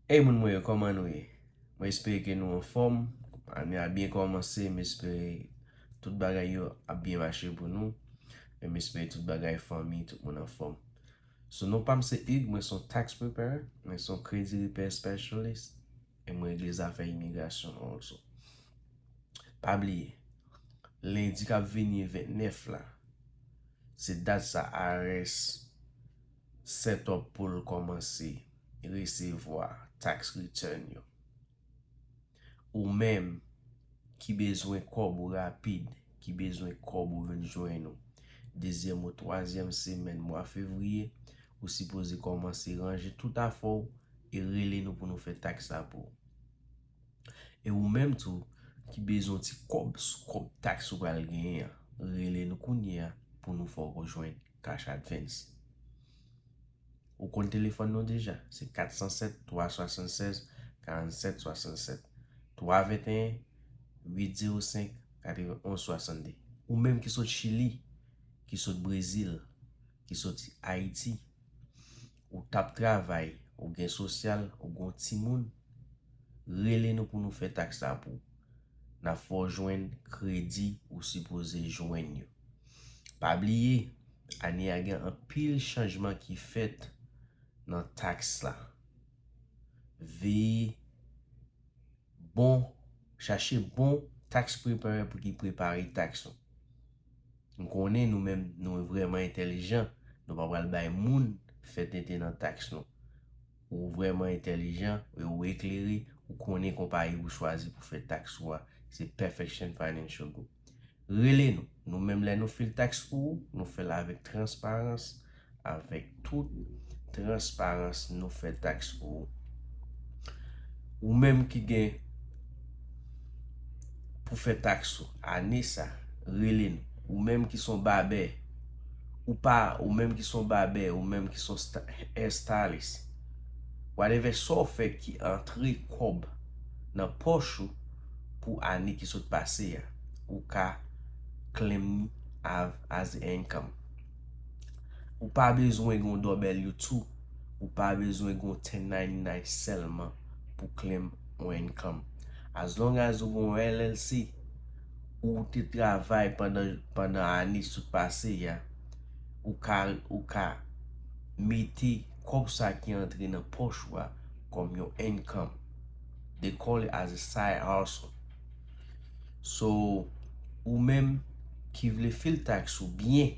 Hey moun mwen yo kòman nou ye mwen espere ke nou anfòm ane a byen kòmanse m espere tout bagay yo ap byen mache pou nou e m espere tout bagay fanmi tout moun anfòm sou non pam se Hugues mwen son tax preparer mwen son credit repair specialist e m regle zafè imigrasyon also pa bliye lendi kap vini 29 la se dat sa IRS. setup pou l kòmanse resevwa tax return yo. Ou menm ki bezwen kòb ou rapid, ki bezwen kòb ou vin jwenn ou dezyèm ou twazyèm semèn mwa fevriye, ou sipoze kòmanse ranje tout afè w e rele nou pou nou fè tax la pou ou. E ou menm tou ki bezwen yon ti kòb sou kòb tax ou pral genyen an, rele nou kounye a pou nou fè w jwenn Cash Advance. Ou konn telefòn nou deja, se 407 376 47 67, 321 805 91 62. Ou menm ki sot Chili, ki sot Brezil, ki soti Ayiti, ou t ap travay, ou gen sosyal, ou gen yon timoun, rele nou pou nou fè taks la pou ou. N ap fè w jwenn kredi ou sipoze jwenn yo. Pa bliye, ane a gen anpil chanjman ki fèt nan taks la. Veye bon, chache bon tax preparer pou ki prepare taks ou. M konnen nou menm nou vreman entelijan, nou pa pral bay moun fè tenten nan taks nou. Ou vrèman entèlijan e ou eklere, ou konnen konpayi ou chwazi pou fè tax ou a se Perfection Financial Group. Rele nou, nou menm lè nou fil tax pou ou, nou fèl avèk transparans, avèk tout transparans nou fè tax pou ou. Ou menm ki gen. pou fè taks ou ane sa, rele n. Ou menm ki son babè, ou pa, ou menm ki son babè, ou menm ki son hair stylist, whatever sa w fè ki antre kòb nan pòch ou pou ane ki sot pase a, ou ka claim ni as income. Ou pa bezwen gen yon W2, ou pa bezwen gen yon 1099 sèlman pou claim. yon income. As long as ou gen yon LLC, ou te travay pandan ane sot pase ya, ou ka ou ka mete kòb sa ki antre nan pòch ou a kòm yon income. They call it as a side hustle. So, ou menm ki vle fil tax ou byen,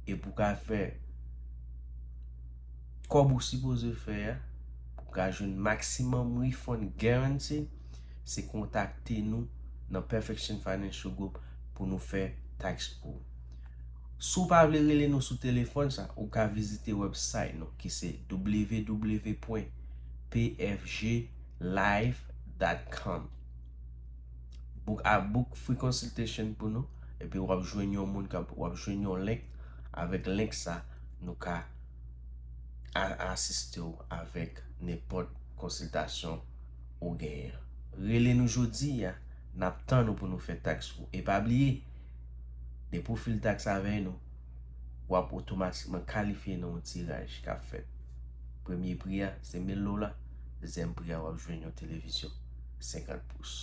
epi ou ka fè. Kòb ou sipoze fè a pou ka jwenn maximum refund guarantee se kontakte nou nan Perfection Financial Group pou nou fè tax pou ou. Si w pa vle rele nou sou telefòn sa ou ka vizite website nou ki se www.pfglive.com Book a book free consultation pou nou epi wap jwenn yon moun kap wap jwenn yon link avèk link sa nou ka a asiste w avèk nenpòt konsiltasyon ou genyen. Rele nou jodi a, n ap tann ou pou nou fè taks ou. E pa bliye, depi w file taks avè nou, w ap otomatikman kalifye nan yon tiraj k ap fèt. Premye pri a se mil dola, dezyèm pri a w ap jwenn yon televizyon 50 pous.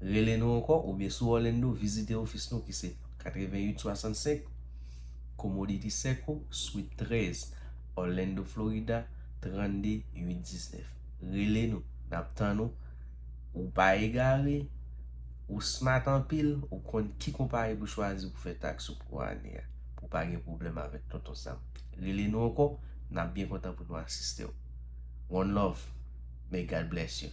Rele nou ankò oubyen si w Òlando, vizite ofis nou ki se 88 65. Comodity Circle, Suite 13, Orlando, Florida, 32 819. Rele nou, n ap tann ou. Ou pa egare, ou smart anpil, ou konn ki konpayi pou chwazi pou fè taks ou pou ane a, pou w pa gen pwoblèm avèk Tonton Sam. Rele nou ankò, n ap byen kontan pou nou asiste w. One love, may God bless you!